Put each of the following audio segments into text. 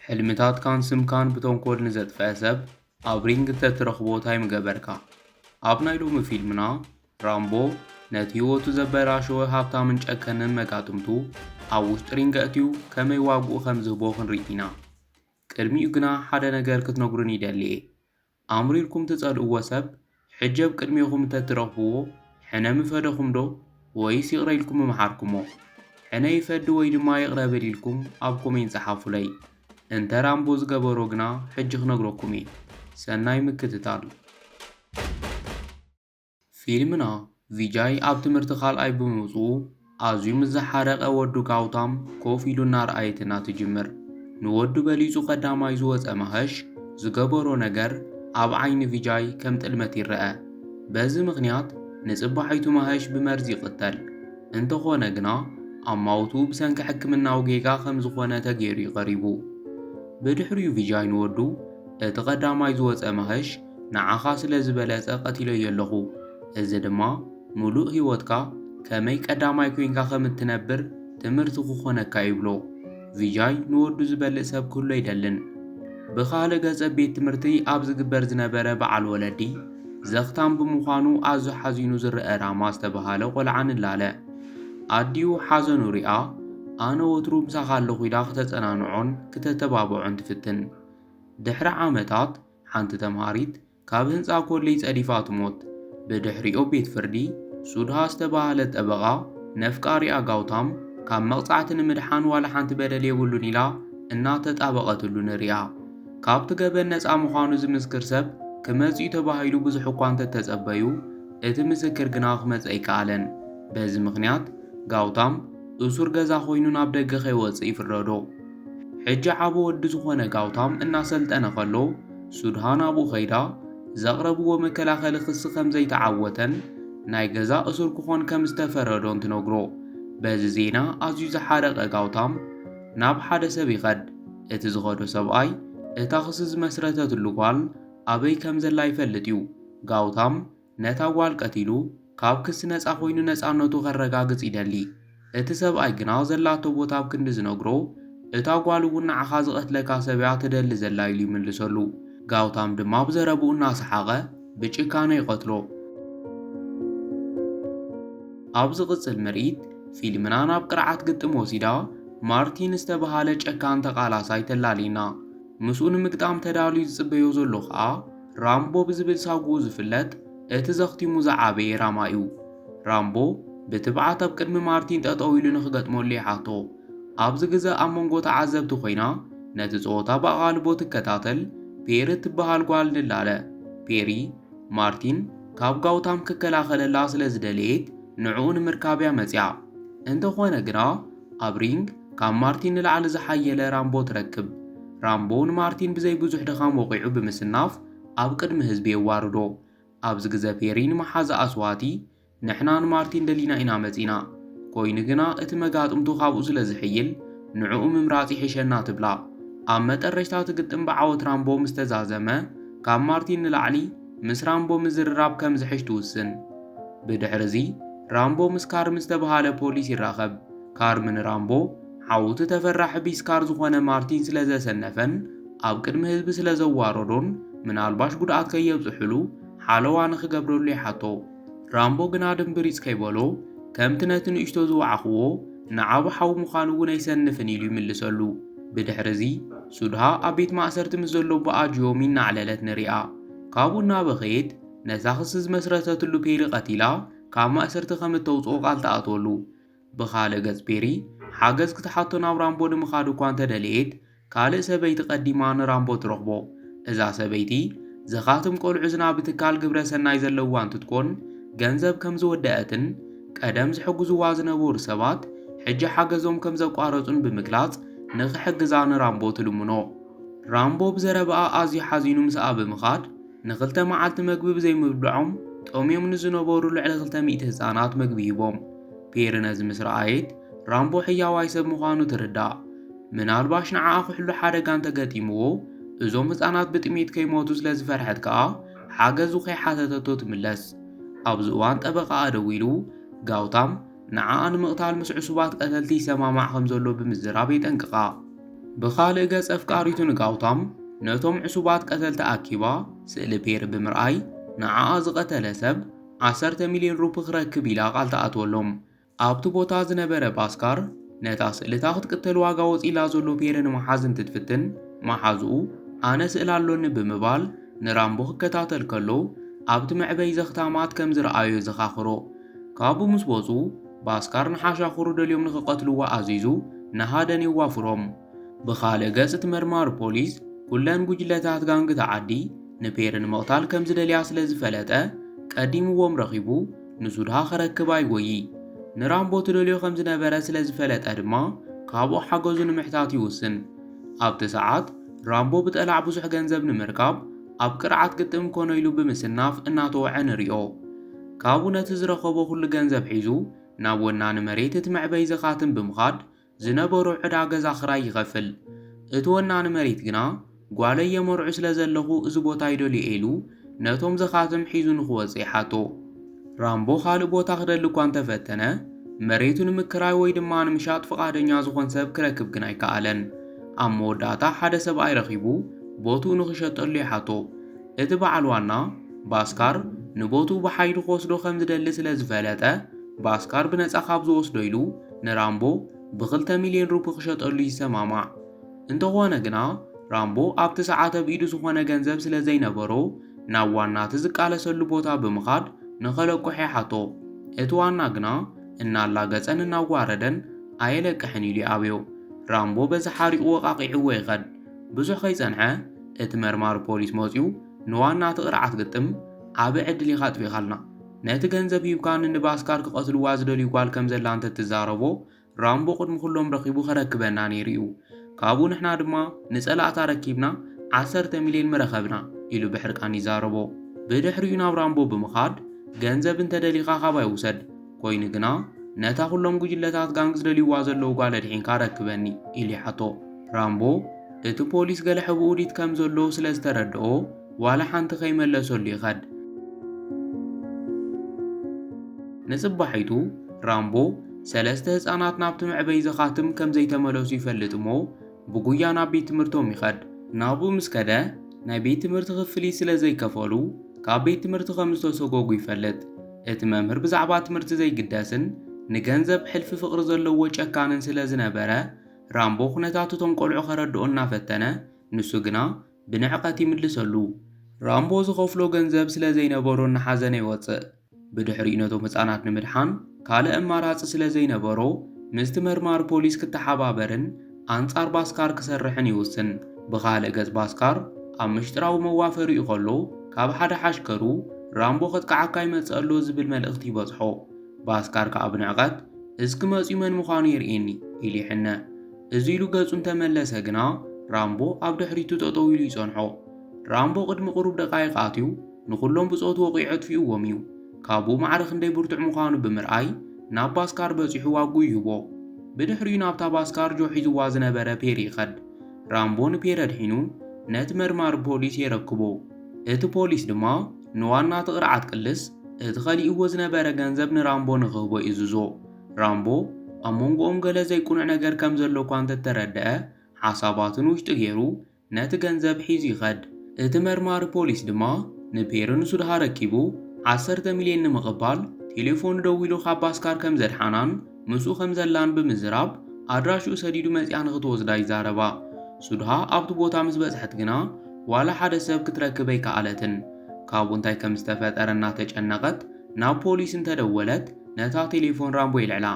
ሕልምታትካን ስምካን ብተንኮል ንዘጥፍአ ሰብ ኣብ ሪንግ እንተትረኽቦ እንታይ ምገበርካ? ኣብ ናይ ሎሚ ፊልምና ራምቦ ነቲ ህይወቱ ዘበላሸወ ሃብታምን ጨከንን መጋጥምቱ ኣብ ውሽጢ ሪንግ ኣእትዩ ከመይ ዋግኡ ከም ዝህቦ ክንርኢ ኢና። ቅድሚኡ ግና ሓደ ነገር ክትነግሩኒ ይደሊ እየ። ኣምሪርኩም ትጸልእዎ ሰብ ሕጂ ኣብ ቅድሜኹም እንተ ትረኽብዎ ሕነ ምፈደኹምዶ ወይስ ይቕረ ኢልኩም ምመሓርኩሞ? ሕነ ይፈዲ ወይ ድማ ይቕረ በል ኢልኩም ኣብ ኮሜንት ጸሓፉለይ። እንተ ራምቦ ዝገበሮ ግና ሕጂ ክነግረኩም እየ። ሰናይ ምክትታል። ፊልምና ቪጃይ ኣብ ትምህርቲ ካልኣይ ብምውጽኡ ኣዝዩ ምስ ዝሓረቐ ወዱ ጋውታም ኮፍ ኢሉ እናርኣየትና ትጅምር። ንወዱ በሊጹ ቀዳማይ ዝወጸ ማሀሽ ዝገበሮ ነገር ኣብ ዓይኒ ቪጃይ ከም ጥልመት ይረኣ። በዚ ምኽንያት ንጽባሒቱ ማሀሽ ብመርዚ ይቕተል። እንተኾነ ግና ኣማውትኡ ብሰንኪ ሕክምናዊ ጌጋ ከም ዝኾነ ተገይሩ'ዩ ቀሪቡ። ብድሕሪኡ ቪጃይ ንወዱ እቲ ቀዳማይ ዝወጸ ማሀሽ ንዓኻ ስለ ዝበለጸ ቀቲለዮ ኣለኹ፣ እዚ ድማ ምሉእ ህይወትካ ከመይ ቀዳማይ ኰይንካ ከም እትነብር ትምህርቲ ክዀነካ እዩ ይብሎ። ቪጃይ ንወዱ ዝበልእ ሰብ ክህሉ ኣይደልን። ብኻልእ ገጽ ኣብ ቤት ትምህርቲ ኣብ ዝግበር ዝነበረ በዓል ወለዲ ዘኽታም ብምዃኑ ኣዝዩ ሓዚኑ ዝረኣ ራማ ዝተበሃለ ቈልዓ ንላለ ኣዲኡ ሓዘኑ ሪኣ ኣነ ወትሩ ምሳኻ ኣለኹ ኢላ ክተጸናንዖን ክተተባብዖን ትፍትን። ድሕሪ ዓመታት ሓንቲ ተምሃሪት ካብ ህንጻ ኮሌጅ ጸዲፋ ትሞት። ብድሕሪኡ ቤት ፍርዲ፣ ሱድሃ ዝተባህለት ጠበቓ ነፍቃሪኣ ጋውታም ካብ መቕጻዕቲ ንምድሓን ዋላ ሓንቲ በደል የብሉን ኢላ እናተጣበቐትሉ ንሪኣ። ካብቲ ገበን ነጻ ምዃኑ ዝምስክር ሰብ ክመጽእ'ዩ ተባሂሉ ብዙሕ እኳ እንተተጸበዩ፣ እቲ ምስክር ግና ክመጽእ ኣይከኣለን። በዚ ምኽንያት ጋውታም፣ እሱር ገዛ ኮይኑ ናብ ደገ ከይወጽእ ይፍረዶ። ሕጂ ዓቢ ወዲ ዝኾነ ጋውታም እናሰልጠነ ከሎ ሱድሃን ኣብኡ ከይዳ ዘቕረብዎ መከላኸሊ ክሲ ከም ዘይተዓወተን ናይ ገዛ እሱር ክኾን ከም ዝተፈረዶን ትነግሮ። በዚ ዜና ኣዝዩ ዝሓረቐ ጋውታም ናብ ሓደ ሰብ ይኸድ። እቲ ዝኸዶ ሰብኣይ እታ ክሲ ዝመስረተትሉ ጓል ኣበይ ከም ዘላ ይፈልጥ እዩ። ጋውታም ነታ ጓል ቀቲሉ ካብ ክሲ ነጻ ኮይኑ ነጻነቱ ከረጋግጽ ይደሊ። እቲ ሰብኣይ ግና ዘላቶ ቦታ ኣብ ክንዲ ዝነግሮ እታ ጓል እውን ንዓኻ ዝቐትለካ ሰብ እያ ትደሊ ዘላ ኢሉ ይምልሰሉ። ጋውታም ድማ ብዘረብኡ እናሰሓቐ ብጭካነ ይቐትሎ። ኣብ ዝቕጽል ምርኢት ፊልምና ናብ ቅርዓት ግጥም ወሲዳ ማርቲን ዝተበሃለ ጨካን ተቓላሳይ ተላልየና። ምስኡ ንምግጣም ተዳልዩ ዝጽበዮ ዘሎ ከኣ ራምቦ ብዝብል ሳጉኡ ዝፍለጥ እቲ ዘኽቲሙ ዝዓበየ ራማ'ዩ። ራምቦ ብትብዓት ኣብ ቅድሚ ማርቲን ጠጠው ኢሉ ንኽገጥመሉ ይሓቶ። ኣብዚ ግዘ ኣብ መንጎ ተዓዘብቲ ኮይና ነቲ ፀወታ ብኣቓልቦ ትከታተል ፔሪ እትበሃል ጓል ንላለ። ፔሪ፣ ማርቲን ካብ ጋውታም ክከላኸለላ ስለዝደለየት ንዕኡ ንምርካብ'ያ መፂኣ። እንተኾነ ግና ኣብ ሪንግ፣ ካብ ማርቲን ንላዕሊ ዝሓየለ ራምቦ ትረክብ። ራምቦ ንማርቲን ብዘይ ብዙሕ ድኻም ወቒዑ ብምስናፍ ኣብ ቅድሚ ህዝቢ የዋርዶ። ኣብዚ ግዘ ፔሪ ንመሓዛኣ ስዋቲ፣ ንሕና ንማርቲን ደሊና ኢና መፂና። ኮይኑ ግና እቲ መጋጥምቱ ካብኡ ስለ ዝሕይል ንዕኡ ምምራፅ ይሕሸና ትብላ። ኣብ መጠረሽታ እቲ ግጥም ብዓወት ራምቦ ምስ ተዛዘመ ካብ ማርቲን ንላዕሊ፣ ምስ ራምቦ ምዝርራብ ከም ዝሕሽ ትውስን። ብድሕርዚ፣ ራምቦ ምስ ካርም ዝተብሃለ ፖሊስ ይራኸብ። ካርም ንራምቦ፣ ዓውቲ ተፈራሒ ቢስካር ዝኾነ ማርቲን ስለ ዘሰነፈን ኣብ ቅድሚ ህዝቢ ስለ ዘዋረዶን ምናልባሽ ጉድኣት ከየብጽሑሉ ሓለዋ ንኽገብረሉ ይሓቶ። ራምቦ ግና ድምብሪጽ ከይበሎ፣ ከምቲ ነቲ ንእሽቶ ዝወዓኹዎ ንዓቢ ሓው ምዃኑ እውን ኣይሰንፍን ኢሉ ይምልሰሉ። ብድሕርዚ። ሱድሃ ኣብ ቤት ማእሰርቲ ምስ ዘሎ ኣቦኣ ጂዮሚ እናዕለለት ንሪኣ። ካብኡ እናበኸየት ነዛ ክሲ ዝመስረተትሉ ፔሪ ቀቲላ ካብ ማእሰርቲ ከም እተውጽኦ ቃል ትኣትወሉ። ብኻልእ ገጽ ፔሪ ሓገዝ ክትሓቶ ናብ ራምቦ ንምኻድ እኳ እንተደለየት ካልእ ሰበይቲ ቀዲማ ንራምቦ ትረኽቦ። እዛ ሰበይቲ ዘኻትም ቆልዑ ዝናቢ ትካል ግብረ ሰናይ ዘለዋ እንትትኮን ገንዘብ ከም ዝወደኣትን ቀደም ዝሕግዙዋ ዝነበሩ ሰባት ሕጂ ሓገዞም ከም ዘቋረጹን ብምግላጽ ንኽሕግዛ ንራምቦ ትልምኖ። ራምቦ ብዘረባኣ ኣዝዩ ሓዚኑ ምስኣ ብምኻድ ንኽልተ መዓልቲ መግቢ ብዘይምብልዖም ጠምዮም ንዝነበሩ ልዕሊ ክልተ ሚእቲ ህጻናት መግቢ ሂቦም። ፔሪ ነዚ ምስ ረኣየት ራምቦ ሕያዋይ ሰብ ምዃኑ ትርዳእ። ምናልባሽ ንዓኣ ክሕሉ ሓደጋ እንተገጢምዎ እዞም ህጻናት ብጥሜት ከይሞቱ ስለዝፈርሐት ከኣ ሓገዙ ከይሓተተቶ ትምለስ። ኣብዚ እዋን ጠበቓኣ ደዊሉ፣ ጋውታም ንዓኣ ንምቕታል ምስ ዕሱባት ቀተልቲ ይሰማማዕ ከም ዘሎ ብምዝራብ የጠንቅቓ። ብኻልእ ገጽ ኣፍቃሪቱ ንጋውታም ነቶም ዕሱባት ቀተልቲ ኣኪባ ስእሊ ፔሪ ብምርኣይ ንዓኣ ዝቐተለ ሰብ ዓሰርተ ሚልዮን ሩፒ ክረክብ ኢላ ቃል ትኣትወሎም። ኣብቲ ቦታ ዝነበረ ባስካር ነታ ስእልታ ክትቅተል ዋጋ ወፂላ ዘሎ ፔረ ንምሓዝ እንትትፍትን መሓዝኡ ኣነ ስእል ኣሎኒ ብምባል ንራምቦ ክከታተል ከሎ ኣብቲ መዕበይ ዘኽታማት ከም ዝረኣዮ የዘኻኽሮ። ካብኡ ምስ ወፁ ባስካር ንሓሻኹሩ ደልዮም ንክቐትልዎ ኣዚዙ ንሃደን የዋፍሮም። ብኻልእ ገፅ እቲ መርማሪ ፖሊስ ኩለን ጉጅለታት ጋንግ እታ ዓዲ ንፔረ ንምቕታል ከም ዝደልያ ስለ ዝፈለጠ ቀዲምዎም ረኺቡ ንሱ ድሃ ክረክብ ኣይጎዪ። ንራምቦ ትደልዮ ከም ዝነበረ ስለ ዝፈለጠ ድማ ካብኡ ሓገዙ ንምሕታት ይውስን። ኣብቲ ሰዓት፣ ራምቦ ብጠላዕ ብዙሕ ገንዘብ ንምርካብ ኣብ ቅርዓት ግጥም ኮነ ኢሉ ብምስናፍ እናተወዐ ንሪኦ። ካብኡ ነቲ ዝረኸቦ ኩሉ ገንዘብ ሒዙ ናብ ወናኒ መሬት እቲ መዕበዪ ዘኻትም ብምኻድ ዝነበሮ ዕዳ ገዛ ክራይ ይኸፍል። እቲ ወናኒ መሬት ግና፣ ጓለይ የመርዑ ስለ ዘለኹ እዚ ቦታ ይደልዮ ኢሉ ነቶም ዘኻትም ሒዙ ንኽወጽእ ይሓቶ። ራምቦ ካልእ ቦታ ክደሊ እኳ እንተ ፈተነ፣ መሬቱ ንምክራይ ወይ ድማ ንምሻጥ ፍቓደኛ ዝዀን ሰብ ክረክብ ግን ኣይከኣለን። ኣብ መወዳእታ ሓደ ሰብኣይ ረኺቡ ቦትኡ ንኽሸጠሉ ይሓቶ። እቲ በዓል ዋና፣ ባስካር፣ ንቦትኡ ብሓይሊ ክወስዶ ከም ዝደሊ ስለ ዝፈለጠ፣ ባስካር ብነጻ ካብ ዝወስዶ ኢሉ ንራምቦ ብኽልተ ሚልዮን ሩፒ ክሸጠሉ ይሰማማዕ። እንተኾነ ግና ራምቦ ኣብቲ ሰዓት ኣብ ኢዱ ዝኾነ ገንዘብ ስለ ዘይነበሮ ናብ ዋና እቲ ዝቃለሰሉ ቦታ ብምኻድ ንኸለቁሕ ይሓቶ። እቲ ዋና ግና እናላገጸን እናጓረደን ኣየለቅሕን ኢሉ ይኣብዮ። ራምቦ በዚ ሓሪቑ ወቓቒዕዎ ይኸድ። ብዙሕ ከይጸንሐ እቲ መርማሪ ፖሊስ መጽዩ ንዋና እቲ ቅርዓት ግጥም ዓቢ ዕድል ኢኻ ኣጥፊእኻልና፣ ነቲ ገንዘብ ሂብካ ንንባስካር ክቐትልዋ ዝደልዩ ጓል ከም ዘላ እንተ ትዛረቦ፣ ራምቦ ቅድሚ ኩሎም ረኺቡ ከረክበና ነይሩ እዩ። ካብኡ ንሕና ድማ ንጸላእቲ ኣረኪብና ዓሰርተ ሚልዮን ምረኸብና፣ ኢሉ ብሕርቃን ይዛረቦ። ብድሕሪኡ ናብ ራምቦ ብምኻድ፣ ገንዘብ እንተ ደሊኻ ካባይ ውሰድ፣ ኮይኑ ግና ነታ ኩሎም ጉጅለታት ጋንግ ዝደልዩዋ ዘለዉ ጓል ኣድሒንካ ኣረክበኒ፣ ኢሉ ይሓቶ። ራምቦ እቲ ፖሊስ ገለ ሕብኡዲት ከም ዘሎ ስለ ዝተረድኦ፣ ዋላ ሓንቲ ከይመለሰሉ ይኸድ። ንጽባሒቱ ራምቦ ሰለስተ ህጻናት ናብቲ መዕበዪ ዘኻትም ከም ዘይተመለሱ ይፈልጥ እሞ ብጉያ ናብ ቤት ትምህርቶም ይኸድ። ናብኡ ምስ ከደ ናይ ቤት ትምህርቲ ክፍሊት ስለ ዘይከፈሉ ካብ ቤት ትምህርቲ ከም ዝተሰጎጉ ይፈልጥ። እቲ መምህር ብዛዕባ ትምህርቲ ዘይግደስን ንገንዘብ ሕልፊ ፍቕሪ ዘለዎ ጨካንን ስለ ዝነበረ ራምቦ ኩነታት እቶም ቆልዑ ከረድኦ እናፈተነ ንሱ ግና ብንዕቀት ይምልሰሉ። ራምቦ ዝኸፍሎ ገንዘብ ስለ ዘይነበሮ እናሓዘነ ይወጽእ። ብድሕሪኡ ነቶም ህጻናት ንምድሓን ካልእ ኣማራጺ ስለ ዘይነበሮ ምስቲ መርማሪ ፖሊስ ክተሓባበርን ኣንጻር ባስካር ክሰርሕን ይውስን። ብኻልእ ገጽ ባስካር ኣብ ምሽጥራዊ መዋፈሪኡ ከሎ ካብ ሓደ ሓሽከሩ ራምቦ ከጥቅዓካ ይመጽእ ኣሎ ዝብል መልእኽቲ ይበጽሖ። ባስካር ከኣ ብንዕቀት እስኪ መጽዩ መን ምዃኑ የርእየኒ ኢሉ ይሕነ። እዚ ኢሉ ገጹ እንተመለሰ ግና ራምቦ ኣብ ድሕሪቱ ጠጠው ኢሉ ይጸንሖ። ራምቦ ቅድሚ ቅሩብ ደቓይቕ ኣትዩ ንኹሎም ብጾቱ ወቒዑ ኣጥፊኡዎም እዩ። ካብኡ ማዕረ ክንደይ ብርቱዕ ምዃኑ ብምርኣይ ናብ ባስካር በጺሑ ዋግኡ ይህቦ። ብድሕሪኡ ናብታ ባስካር ጆ ሒዙዋ ዝነበረ ፔሪ ይኸድ። ራምቦ ንፔሪ ኣድሒኑ ነቲ መርማሪ ፖሊስ የረክቦ። እቲ ፖሊስ ድማ ንዋና እቲ ቅርዓት ቅልስ እቲ ከሊእዎ ዝነበረ ገንዘብ ንራምቦ ንኽህቦ ይእዝዞ። ራምቦ ኣብ መንጎኦም ገለ ዘይቅኑዕ ነገር ከም ዘሎ እኳ እንተ ተረድኣ፣ ሓሳባቱ ንውሽጡ ገይሩ ነቲ ገንዘብ ሒዙ ይኸድ። እቲ መርማሪ ፖሊስ ድማ ንፔሪ ንሱድሃ ኣረኪቡ ዓሰርተ ሚልዮን ንምቕባል ቴሌፎኑ ደዊሉ ካብ ባስካር ከም ዘድሓናን ምስኡ ከም ዘላን ብምዝራብ ኣድራሽኡ ሰዲዱ መጺኣ ንኽትወስዳ ይዛረባ። ሱድሃ ኣብቲ ቦታ ምስ በጽሐት ግና ዋላ ሓደ ሰብ ክትረክብ ኣይከኣለትን። ካብኡ እንታይ ከም ዝተፈጠረ እናተጨነቐት ናብ ፖሊስ እንተ ደወለት ነታ ቴሌፎን ራምቦ የልዕላ።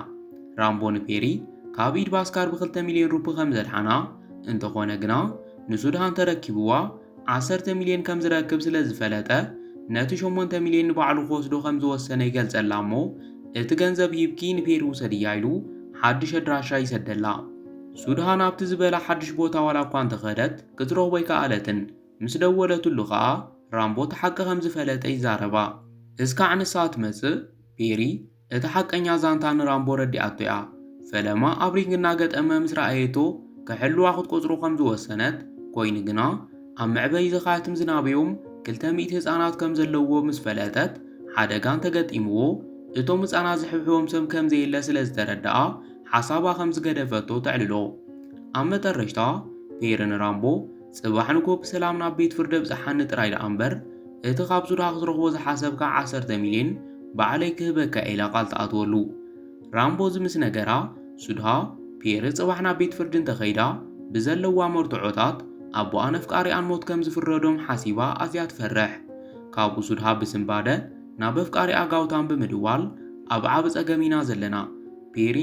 ራምቦ ንፔሪ ካብ ኢድ ባስካር ብክልተ ሚልዮን ሩፒ ከም ዘድሓና፣ እንተኾነ ግና ንሱድሃን ተረኪብዋ ዓሰርተ ሚልዮን ከም ዝረክብ ስለ ዝፈለጠ ነቲ ሸሞንተ ሚልዮን ንባዕሉ ክወስዶ ከም ዝወሰነ ይገልጸላ እሞ እቲ ገንዘብ ሂብኪ ንፔሪ ውሰድያ ኢሉ ሓድሽ ኣድራሻ ይሰደላ። ሱድሃን ኣብቲ ዝበላ ሓድሽ ቦታ ዋላ እኳ እንተ ከደት ክትረኽቦ ኣይከኣለትን። ምስ ደወለትሉ ከኣ ራምቦ እቲ ሓቂ ከም ዝፈለጠ ይዛረባ። እስካዕ ንሳ ትመጽእ ቤሪ እቲ ሓቀኛ ዛንታ ንራምቦ ረዲኣቶ'ያ። ፈለማ ኣብ ሪንግ እናገጠመ ምስ ረኣየቶ ክሕልዋ ክትቆጽሮ ከም ዝወሰነት፣ ኮይኑ ግና ኣብ መዕበዪ ዘኻትም ዝናበዮም ክልተ ሚእቲ ህጻናት ከም ዘለዉዎ ምስ ፈለጠት ሓደጋ እንተገጢምዎ እቶም ህጻናት ዝሕብሕቦም ሰብ ከም ዘየለ ስለ ዝተረድኣ ሓሳባ ከም ዝገደፈቶ ተዕልሎ። ኣብ መጠረሽታ ቤሪ ንራምቦ ጽባሕ ንግሆ ብሰላም ናብ ቤት ፍርዲ ኣብጽሓኒ ጥራይ ደኣ እምበር፣ እቲ ካብ ሱዳን ክትረኽቦ ዝሓሰብካ ዓሰርተ ሚልዮን ባዕለይ ክህበካ'የ ኢላ ቃል ትኣትወሉ። ራምቦ እዚ ምስ ነገራ፣ ሱድሃ፣ ፒየሪ ጽባሕ ናብ ቤት ፍርዲ እንተ ከይዳ፣ ብዘለዋ መርትዖታት፣ ኣቦኣን ኣፍቃሪኣን ሞት ከም ዝፍረዶም ሓሲባ ኣዝያ ትፈርሕ። ካብኡ ሱድሃ ብስንባደ ናብ ኣፍቃሪኣ ጋውታም ብምድዋል፣ ኣብ ዓቢ ጸገም ኢና ዘለና። ፒየሪ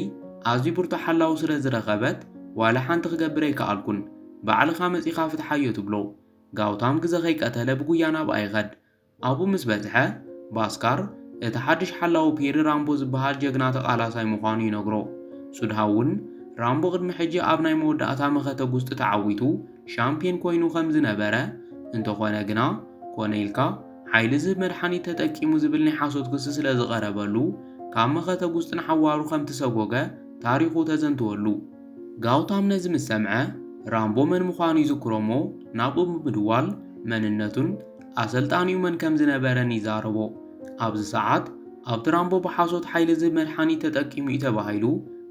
ኣዝዩ ብርቱዕ ሓላዊ ስለ ዝረኸበት፣ ዋላ ሓንቲ ክገብር ኣይከኣልኩን። ባዕልኻ መጺኻ ፍትሓዮ ትብሎ። ጋውታም ግዘ ከይቀተለ ብጉያ ናብኣ ይኸድ። ኣብኡ ምስ በጽሐ፣ ባስካር እቲ ሓድሽ ሓላዊ ፔሪ ራምቦ ዝበሃል ጀግና ተቓላሳይ ምዃኑ ይነግሮ። ሱድሃ'ውን ራምቦ ቅድሚ ሕጂ ኣብ ናይ መወዳእታ መኸተ ጉስጢ ተዓዊቱ ሻምፕዮን ኮይኑ ከም ዝነበረ፣ እንተኾነ ግና ኮነ ኢልካ ሓይሊ ዝህብ መድሓኒት ተጠቂሙ ዝብል ናይ ሓሶት ክሲ ስለ ዝቐረበሉ ካብ መኸተ ጉስጢ ንሓዋሩ ከም ትሰጎገ ታሪኹ ተዘንትወሉ። ጋውታም ነዚ ምስ ሰምዐ፣ ራምቦ መን ምዃኑ ይዝክሮ'ሞ ናብኡ ብምድዋል መንነቱን ኣሰልጣኒኡ መን ከም ዝነበረን ይዛረቦ። ኣብዚ ሰዓት ኣብቲ ራምቦ ብሓሶት ሓይሊ ዝህብ መድሓኒት ተጠቂሙ እዩ ተባሂሉ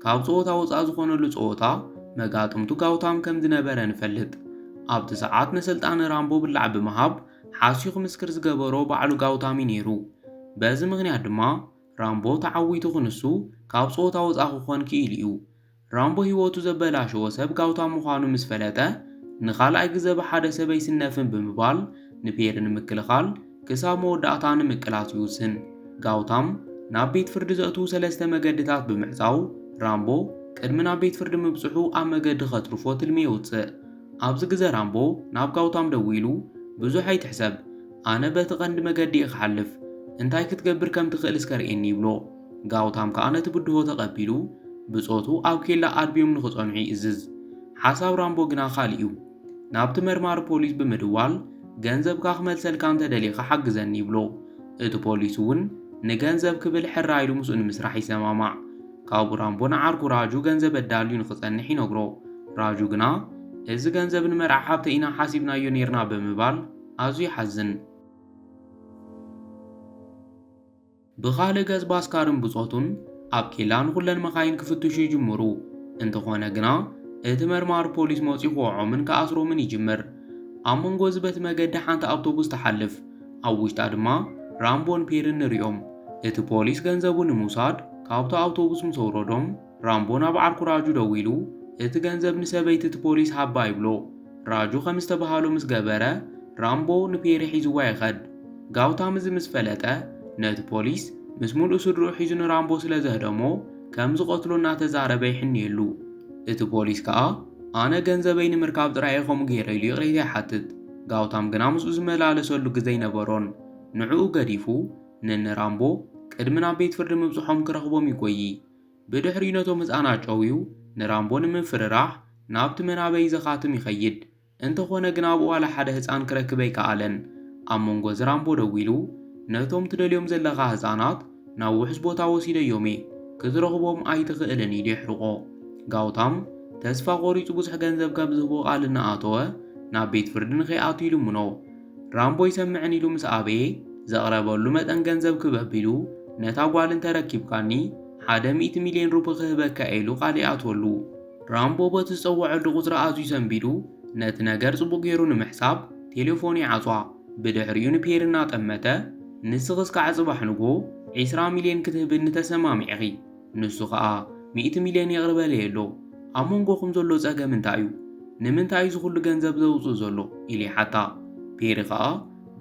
ካብ ጸወታ ወጻኢ ዝኾነሉ ጸወታ መጋጥምቱ ጋውታም ከም ዝነበረ ንፈልጥ። ኣብቲ ሰዓት ነሰልጣኒ ራምቦ ብላዕ ብምሃብ ሓስዩ ክምስክር ዝገበሮ ባዕሉ ጋውታም እዩ ነይሩ። በዚ ምኽንያት ድማ ራምቦ ተዓዊቱ ክንሱ ካብ ጸወታ ወጻኢ ክኾን ክኢሉ'ዩ። ራምቦ ህይወቱ ዘበላሸወ ሰብ ጋውታ ምዃኑ ምስ ፈለጠ፣ ንኻልኣይ ግዘ ብሓደ ሰብ ኣይስነፍን ብምባል ንፔሪ ንምክልኻል ክሳብ መወዳእታ ንምቅላስ ይውስን። ጋውታም ናብ ቤት ፍርዲ ዘእትዉ ሰለስተ መገድታት ብምዕጻው፣ ራምቦ ቅድሚ ናብ ቤት ፍርዲ ምብጽሑ ኣብ መገዲ ከትርፎ ትልሚ የውጽእ። ኣብዚ ግዘ ራምቦ ናብ ጋውታም ደዊሉ፣ ብዙሕ ኣይትሕሰብ፣ ኣነ በቲ ቐንዲ መገዲ እየ ኽሓልፍ፣ እንታይ ክትገብር ከም ትኽእል እስከ ርእየኒ ይብሎ። ጋውታም ከኣ ነቲ ብድሆ ተቐቢሉ ብጾቱ ኣብ ኬላ ኣድብዮም ንኽጸንሑ ይእዝዝ። ሓሳብ ራምቦ ግና ካልእ እዩ። ናብቲ መርማሪ ፖሊስ ብምድዋል ገንዘብካ ክመልሰልካ እንተ ደሊኻ ሓግዘኒ ይብሎ። እቲ ፖሊስ እውን ንገንዘብ ክብል ሕራይ ኢሉ ምስኡ ንምስራሕ ይሰማማዕ። ካብኡ ራምቦ ንዓርኩ ራጁ ገንዘብ ኣዳልዩ ንኽጸንሕ ይነግሮ። ራጁ ግና እዚ ገንዘብ ንመርዓ ሓብተይ ኢና ሓሲብናዮ ኔርና ብምባል፣ ኣዝዩ ይሓዝን። ብኻልእ ገጽ ባስካርን ብጾቱን ኣብ ኬላ ንኹለን መኻይን ክፍትሹ ይጅምሩ። እንተኾነ ግና እቲ መርማሪ ፖሊስ መጺኡ ክወዖምን ክኣስሮምን ይጅምር። ኣብ መንጎ እዚ በቲ መገዲ ሓንቲ ኣብቶቡስ ትሓልፍ። ኣብ ውሽጣ ድማ ራምቦን ፔርን ንሪኦም። እቲ ፖሊስ ገንዘቡ ንምውሳድ ካብታ ኣብቶቡስ ምስ ኣውረዶም፣ ራምቦ ናብ ዓርኩ ራጁ ደዊሉ እቲ ገንዘብ ንሰበይቲ እቲ ፖሊስ ሃባ ይብሎ። ራጁ ከም ዝተበሃሎ ምስ ገበረ ራምቦ ንፔሪ ሒዝዋ ይኸድ። ጋውታም እዚ ምስ ፈለጠ ነቲ ፖሊስ ምስ ሙሉእ ስድርኡ ሒዙ ንራምቦ ስለ ዘህደሞ ከም ዝቐትሎ እናተዛረበ ይሕንየሉ። እቲ ፖሊስ ከኣ ኣነ ገንዘበይ ንምርካብ ጥራይ እየ ከምኡ ገይረ ኢሉ ይቕሬታ ይሓትት። ጋውታም ግና ምስኡ ዝመላለሰሉ ግዘ ኣይነበሮን። ንዕኡ ገዲፉ ንእኒ ራምቦ ቅድሚ ናብ ቤት ፍርዲ ምብጽሖም ክረኽቦም ይጎዪ። ብድሕሪኡ ነቶም ህጻን ኣጨውዩ ንራምቦ ንምፍርራሕ ናብቲ መናበይ ዘኻትም ይኸይድ። እንተኾነ ግን ኣብኡ ዋላ ሓደ ህጻን ክረክብ ኣይከኣለን። ኣብ መንጎ እዚ ራምቦ ደዊሉ ነቶም ትደልዮም ዘለኻ ህጻናት ናብ ውሑስ ቦታ ወሲደዮም'የ ክትረኽቦም ኣይትኽእልን ኢሉ የሕርቖ። ጋውታም ተስፋ ቆሪጹ ብዙሕ ገንዘብ ከም ዝህቦ ቃል እናኣተወ ናብ ቤት ፍርዲ ንከይኣቱ ይልምኖ። ራምቦ ይሰምዕን ኢሉ ምስ ኣበየ ዘቕረበሉ መጠን ገንዘብ ክበብ ኢሉ ነታ ጓል እንተረኪብካኒ ሓደ ሚእቲ ሚልዮን ሩፒ ክህበካ እየ ኢሉ ቃል ይኣትወሉ። ራምቦ በቲ ዝጸወዐሉ ቁጽሪ ኣዝዩ ሰንቢዱ ነቲ ነገር ጽቡቕ ገይሩ ንምሕሳብ ቴለፎኑ ይዓጽዋ። ብድሕሪኡ ንፔሪ እናጠመተ ንስኺስ ከኣ ጽባሕ ንግሆ ዒስራ ሚልዮን ክትህብኒ ተሰማሚዕኺ። ንሱ ኸኣ ሚእቲ ሚልዮን ይቕረ በለየሎ፣ ኣብ መንጎኹም ዘሎ ጸገም እንታይ እዩ? ንምንታይ እዩ እዚ ኹሉ ገንዘብ ዘውጽእ ዘሎ? ኢሉ ይሓታ። ፔሪ ኸኣ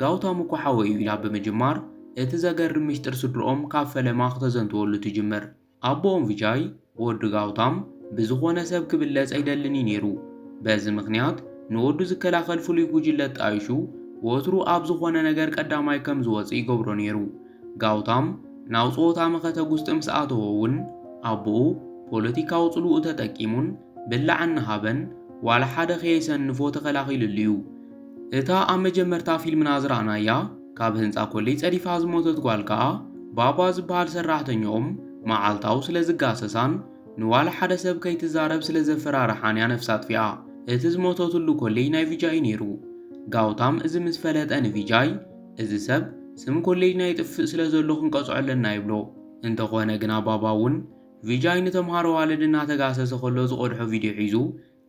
ጋውታም እኮ ሓወይ እዩ ኢላ ብምጅማር እቲ ዘገርም ምሽጥር ስድርኦም ካብ ፈለማ ክተዘንትወሉ ትጅምር። ኣቦኦም ቪጃይ፣ ወዲ ጋውታም፣ ብዝኾነ ሰብ ክብለጽ ኣይደልን እዩ ነይሩ። በዚ ምኽንያት ንወዱ ዝከላኸል ፍሉይ ጉጅለ ኣጣይሹ ወትሩ ኣብ ዝኾነ ነገር ቀዳማይ ከም ዝወጽእ ይገብሮ ነይሩ። ጋውታም ናብ ጸወታ መኸተ ጉስጢ ምስ ኣተወ እውን ኣቦኡ ፖለቲካዊ ጽልውኡ ተጠቂሙን ብላዕ እናሃበን ዋላ ሓደ ከየሰንፎ ተኸላኺሉሉ እዩ። እታ ኣብ መጀመርታ ፊልምና ዝረኣናያ ካብ ህንጻ ኮሌጅ ጸዲፋ ዝሞተት ጓል ከኣ ባባ ዝበሃል ሰራሕተኛኦም መዓልታዊ ስለ ዝጋሰሳን ንዋላ ሓደ ሰብ ከይትዛረብ ስለ ዘፈራርሓን እያ ነፍሳ ኣጥፊኣ። እቲ ዝሞተትሉ ኮሌጅ ናይ ቪጃይ እዩ ነይሩ። ጋውታም እዚ ምስ ፈለጠ ንቪጃይ እዚ ሰብ ስም ኮሌጅና ይጥፍእ ስለ ዘሎ ክንቀጽዖ ኣለና ይብሎ። እንተኾነ ግና ባባ ውን ቪጃይ ንተምሃሮ ኣዋልድ እናተጋሰሰ ከሎ ዝቐድሖ ቪድዮ ሒዙ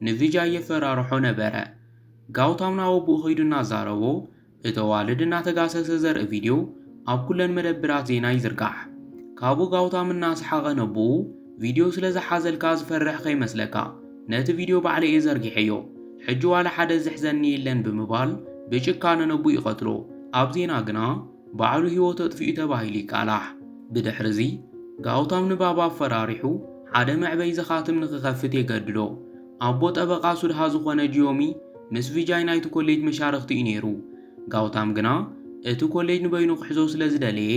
ንቪጃይ የፈራርሖ ነበረ። ጋውታም ናብ ኣቡኡ ከይዱ እናዛረቦ እቲ ኣዋልድ እናተጋሰሰ ዘርኢ ቪድዮ ኣብ ኩለን መደብራት ዜና ይዝርጋሕ። ካብኡ ጋውታም እናሰሓቐ ነቡኡ፣ ቪድዮ ስለ ዝሓዘልካ ዝፈርሕ ከይመስለካ ነቲ ቪድዮ ባዕለይ እየ ዘርጊሐዮ ሕጂ ዋላ ሓደ ዝሕዘኒ የለን ብምባል ብጭካነ ነቡ ይቐትሎ ኣብ ዜና ግና ባዕሉ ህይወቱ ኣጥፊኡ ተባሂሉ ይቃላሕ ብድሕሪ እዚ ጋውታም ንባብ ኣፈራሪሑ ሓደ መዕበይ ዘኻትም ንክኸፍት የገድዶ ኣቦ ጠበቓ ሱድሃ ዝኾነ ጂዮሚ ምስ ቪጃይ ናይቲ ኮሌጅ መሻርኽቲ እዩ ነይሩ ጋውታም ግና እቲ ኮሌጅ ንበይኑ ክሕዞ ስለ ዝደለየ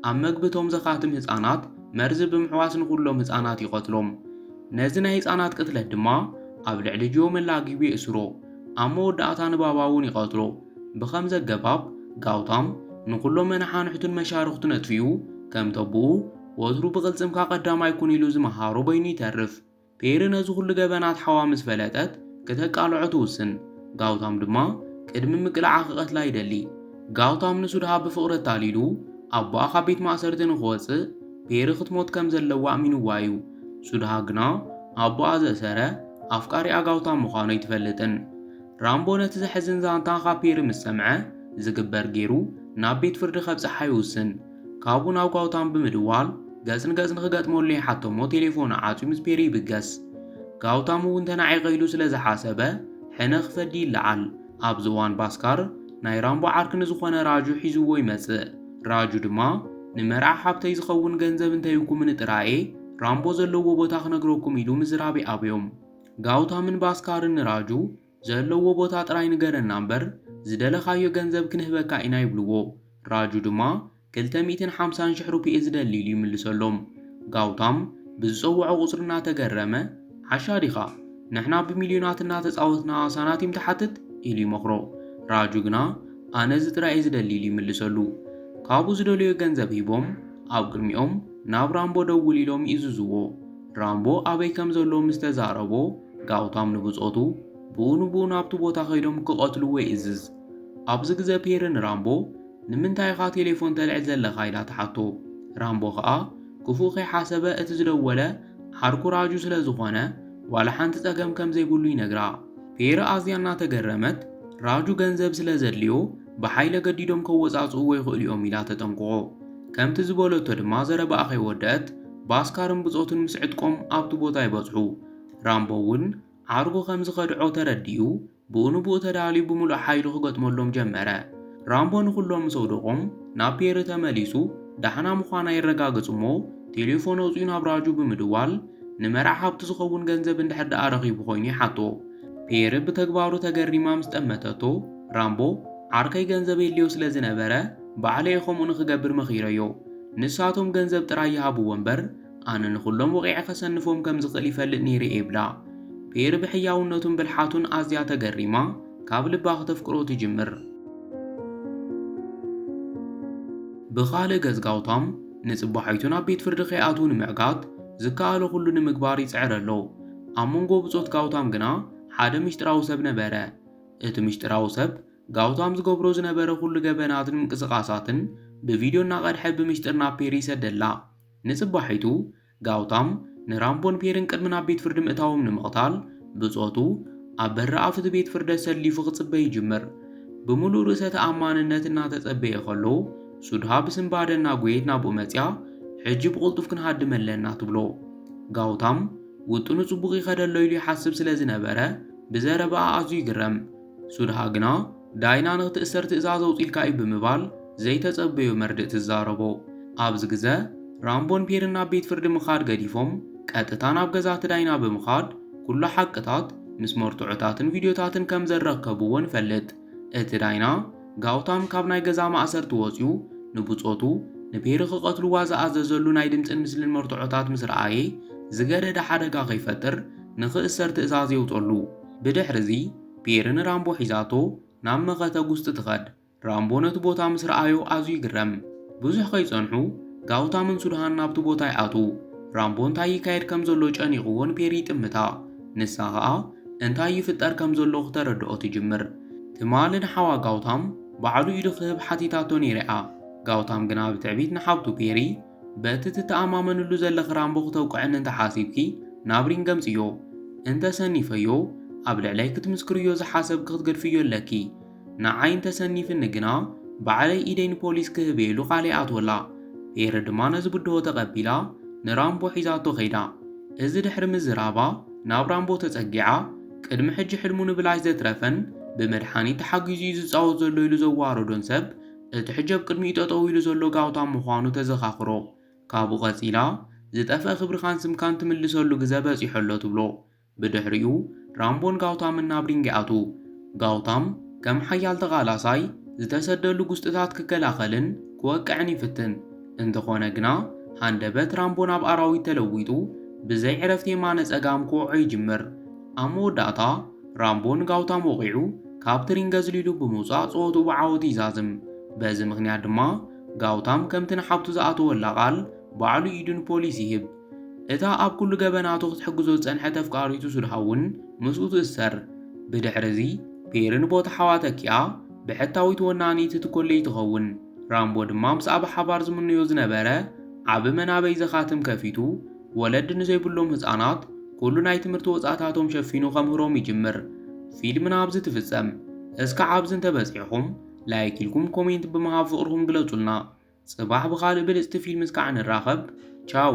ኣብ መግቢ እቶም ዘኻትም ህጻናት መርዚ ብምሕዋስ ንኹሎም ህጻናት ይቐትሎም። ነዚ ናይ ህጻናት ቅትለት ድማ ኣብ ልዕሊ ጆም ኣላጊቡ የእስሮ። ኣብ መወዳእታ ንባባ'ውን ይቐትሎ። ብኸምዚ ኣገባብ ጋውታም ንኹሎም መነሓንሕቱን መሻርኽቱን ኣጥፊኡ፣ ከምተቦኡ ወትሩ ብቕልጽምካ ቀዳማይ ኩን ኢሉ ዝመሃሮ በይኑ ይተርፍ። ፔሪ ነዚ ዅሉ ገበናት ሓዋ ምስ ፈለጠት፣ ክተቃልዖ ትውስን። ጋውታም ድማ ቅድሚ ምቅላዓ ክቐትላ ይደሊ። ጋውታም ንሱድሃ ብፍቕሪ ኣታሊሉ ኣቦኣ ካብ ቤት ማእሰርቲ ንኽወጽእ ፔሪ ክትሞት ከም ዘለዋ ኣእሚኑዋ እዩ። ሱድሃ ግና ኣቦኣ ዘእሰረ ኣፍቃሪኣ ጋውታም ምዃኑ ኣይትፈልጥን። ራምቦ ነቲ ዘሕዝን ዛንታ ካብ ፔሪ ምስ ሰምዐ፣ ዝግበር ገይሩ ናብ ቤት ፍርዲ ከብጽሓ ይውስን። ካብኡ ናብ ጋውታም ብምድዋል ገጽ ንገጽ ንኽገጥመሉ ይሓቶ እሞ ቴሌፎኑ ዓጽዩ ምስ ፔሪ ይብገስ። ጋውታም እውን ተናዒቐ ኢሉ ስለ ዝሓሰበ ሕነ ክፈዲ ይለዓል። ኣብዚ እዋን ባስካር ናይ ራምቦ ዓርኪ ንዝኾነ ራጁ ሒዝዎ ይመጽእ። ራጁ ድማ ንመርዓ ሓብተይ ዝኸውን ገንዘብ እንተይብኩምኒ ጥራይ'የ ራምቦ ዘለዎ ቦታ ክነግረኩም ኢሉ ምዝራብ ይኣብዮም። ጋውታምን ባስካርን ንራጁ ዘለዎ ቦታ ጥራይ ንገረና እምበር ዝደለኻዮ ገንዘብ ክንህበካ ኢና ይብልዎ። ራጁ ድማ ክልተ ሚእትን ሓምሳን ሽሕ ሩፕኤ ዝደሊ ኢሉ ይምልሰሎም። ጋውታም ብዝጸውዖ ቁጽሪ እናተገረመ ዓሻ ዲኻ ንሕና ብሚልዮናት እናተጻወትና ሳናቲም ትሓትት? ኢሉ ይመኽሮ። ራጁ ግና ኣነ እዚ ጥራይ እየ ዝደሊ ኢሉ ይምልሰሉ። ካብኡ ዝደለዮ ገንዘብ ሂቦም ኣብ ቅድሚኦም ናብ ራምቦ ደውል ኢሎም ይእዝዝዎ። ራምቦ ኣበይ ከም ዘሎ ምስ ተዛረቦ፣ ጋውታም ንብጾቱ ብኡ ንብኡ ናብቲ ቦታ ከይዶም ክቐትልዎ ይእዝዝ። ኣብዚ ግዘ ፔሪ ንራምቦ ንምንታይ ኢኻ ቴሌፎን ተልዕል ዘለኻ ኢላ ትሓቶ። ራምቦ ከኣ ክፉእ ከይሓሰበ እቲ ዝደወለ ዓርኩ ራጁ ስለ ዝኾነ ዋላ ሓንቲ ጸገም ከም ዘይብሉ ይነግራ። ፔሪ ኣዝያ እናተገረመት ራጁ ገንዘብ ስለ ዘድልዮ ብሓይሊ ኣገዲዶም ከወጻጽእዎ ይኽእሉ'ዮም ኢላ ተጠንቅቖ። ከምቲ ዝበለቶ ድማ ዘረባኣ ከይወደኣት ባስካርን ብጾቱን ምስ ዕጥቆም ኣብቲ ቦታ ይበጽሑ። ራምቦ'ውን ዓርኩ ከም ዝኸድዖ ተረዲኡ ብኡ ንብኡ ተዳልዩ ብምሉእ ሓይሉ ክገጥመሎም ጀመረ። ራምቦ ንኹሎም ምስ ኣውደቖም ናብ ፔሪ ተመሊሱ ዳሕና ምዃና የረጋግጽ'ሞ ቴሌፎን ኣውጺኡ ናብ ራጁ ብምድዋል ንመርዓ ሃብቱ ዝኸውን ገንዘብ እንድሕር ደኣ ረኺቡ ኮይኑ ይሓቶ። ፔሪ ብተግባሩ ተገሪማ ምስ ጠመተቶ፣ ራምቦ ዓርከይ ገንዘብ የድልዮ ስለ ዝነበረ ባዕለ'የ ከምኡ ንኽገብር መኺረዮ። ንሳቶም ገንዘብ ጥራይ ይሃብዎ እምበር ኣነ ንኹሎም ወቒዐ ከሰንፎም ከም ዝኽእል ይፈልጥ ነይረ'የ ይብላ። ፔር ብሕያውነቱን ብልሓቱን ኣዝያ ተገሪማ ካብ ልባ ክተፍቅሮ ትጅምር። ብኻልእ ገጽ ጋውታም ንጽባሒቱ ናብ ቤት ፍርዲ ከይኣትዉ ንምዕጋት ዝከኣሎ ኩሉ ንምግባር ይጽዕር ኣሎ። ኣብ መንጎ ብጾት ጋውታም ግና ሓደ ምሽጥራዊ ሰብ ነበረ። እቲ ምስጢራዊ ሰብ፣ ጋውታም ዝገብሮ ዝነበረ ዅሉ ገበናትን ምንቅስቓሳትን ብቪድዮ እናቐድሐ ብምስጢር ናብ ፔሪ ይሰደላ። ንጽባሒቱ፣ ጋውታም ንራምቦን ፔሪን ቅድሚ ናብ ቤት ፍርዲ ምእታዎም ንምቕታል ብጾቱ ኣብ በሪ ኣፍ እቲ ቤት ፍርዲ ኣሰሊፉ ክጽበ ይጅምር። ብምሉእ ርእሰ ተኣማንነት እናተጸበየ ኸሎ፣ ሱድሃ ብስንባደ እናጐየት ናብኡ መጺኣ፣ ሕጂ ብቕልጡፍ ክንሃድም ኣለና፣ ትብሎ። ጋውታም ውጥኑ ጽቡቕ ይኸደሎ ኢሉ ይሓስብ ስለ ዝነበረ፣ ብዘረባኣ ኣዝዩ ይግረም። ሱድሃ ግና፣ ዳይና ንኽትእሰር ትእዛዝ ኣውጺልካ'ዩ ብምባል ዘይተጸበዮ መርድእ ትዛረቦ። ኣብዚ ግዘ፣ ራምቦን ፔርን ናብ ቤት ፍርዲ ምኻድ ገዲፎም ቀጥታ ናብ ገዛ'ቲ ዳይና ብምኻድ ኩሉ ሓቅታት ምስ መርትዖታትን ቪድዮታትን ከም ዘረከብዎ ንፈልጥ። እቲ ዳይና፣ ጋውታም ካብ ናይ ገዛ ማእሰርቲ ወጺኡ ንብጾቱ፣ ንፔሪ ክቐትልዋ ዝኣዘዘሉ ናይ ድምጽን ምስልን መርትዖታት ምስ ረኣየ፣ ዝገደደ ሓደጋ ከይፈጥር ንክእሰር ትእዛዝ የውጸሉ። ብድሕሪዚ፣ ፔሪ ንራምቦ ሒዛቶ ናብ መኸተ ጉስጢ ትኸድ። ራምቦ ነቲ ቦታ ምስ ረኣዮ ኣዝዩ ይግረም። ብዙሕ ከይጸንሑ፣ ጋውታምን ሱድሃን ናብቲ ቦታ ይኣትዉ። ራምቦ እንታይ ይካየድ ከም ዘሎ ጨኒቕዎ ንፔሪ ይጥምታ። ንሳ ከኣ እንታይ ይፍጠር ከም ዘሎ ክተረድኦ ትጅምር። ትማሊ ንሓዋ ጋውታም ባዕሉ ኢዱ ክህብ ሓቲታቶ ነይራ'ያ። ጋውታም ግና ብትዕቢት ንሓብቱ ፔሪ፣ በቲ ትተኣማመንሉ ዘለኺ ራምቦ ክተውቅዕኒ እንተ ሓሲብኪ ናብ ሪንግ ኣምጽዮ። እንተ ሰኒፈዮ ኣብ ልዕለይ ክትምስክርዮ ዝሓሰብኪ ክትገድፍዮ ኣለኪ። ንዓይ እንተሰኒፍኒ ግና ባዕለይ ኢደይ ንፖሊስ ክህብ ኢሉ ቃል ይኣትወላ። ፔሪ ድማ ነዚ ብድሆ ተቐቢላ ንራምቦ ሒዛቶ ከይዳ። እዚ ድሕሪ ምዝራባ ናብ ራምቦ ተጸጊዓ፣ ቅድሚ ሕጂ ሕልሙ ንብላሽ ዘትረፈን ብመድሓኒት ተሓጊዙ እዩ ዝጻወት ዘሎ ኢሉ ዘዋረዶን ሰብ እቲ ሕጂ ኣብ ቅድሚኡ ጠጠው ኢሉ ዘሎ ጋውታም ምዃኑ ተዘኻኽሮ። ካብኡ ቀጺላ፣ ዝጠፍአ ክብርኻን ስምካን ትምልሰሉ ግዘ በጺሑ ኣሎ ትብሎ። ብድሕሪኡ ራምቦን ጋውታምን ናብ ሪንግ ይኣትዉ። ጋውታም ከም ሓያል ተቓላሳይ ዝተሰደሉ ጉስጢታት ክከላኸልን ክወቅዕን ይፍትን። እንተኾነ ግና ሃንደበት ራምቦ ናብ ኣራዊት ተለዊጡ ብዘይ ዕረፍቲ የማነ ጸጋም ክወቕዖ ይጅምር። ኣብ መወዳእታ ራምቦ ንጋውታም ወቒዑ ካብቲ ሪንግ ኣዝሊሉ ብምውጻእ ጸወትኡ ብዓወት ይዛዝም። በዚ ምኽንያት ድማ ጋውታም ከምቲ ንሓብቱ ዝኣተወላ ቃል ባዕሉ ኢዱ ንፖሊስ ይህብ። እታ ኣብ ኩሉ ገበናቱ ክትሕግዞ ዝጸንሐት ኣፍቃሪቱ ሱድሃ እውን ምስኡ ትእሰር። ብድሕርዚ፣ ፔሪን ቦታ ሓዋ ተኪኣ ብሕታዊት ወናኒት እቲ ኮሌጅ ትኸውን። ራምቦ ድማ ምስኣ ብሓባር ዝምነዮ ዝነበረ ዓቢ መናበይ ዘኻትም ከፊቱ፣ ወለዲ ንዘይብሎም ህጻናት ኩሉ ናይ ትምህርቲ ወጻእታቶም ሸፊኑ ከምህሮም ይጅምር። ፊልምና ኣብዚ ትፍጸም። እስከ ኣብዚ እንተበጺሕኹም ላይክ ኢልኩም ኮሜንት ብምሃብ ፍቕርኹም ግለጹልና። ጽባሕ ብኻልእ ብልጽቲ ፊልምስ ካኣ ንራኸብ ቻው።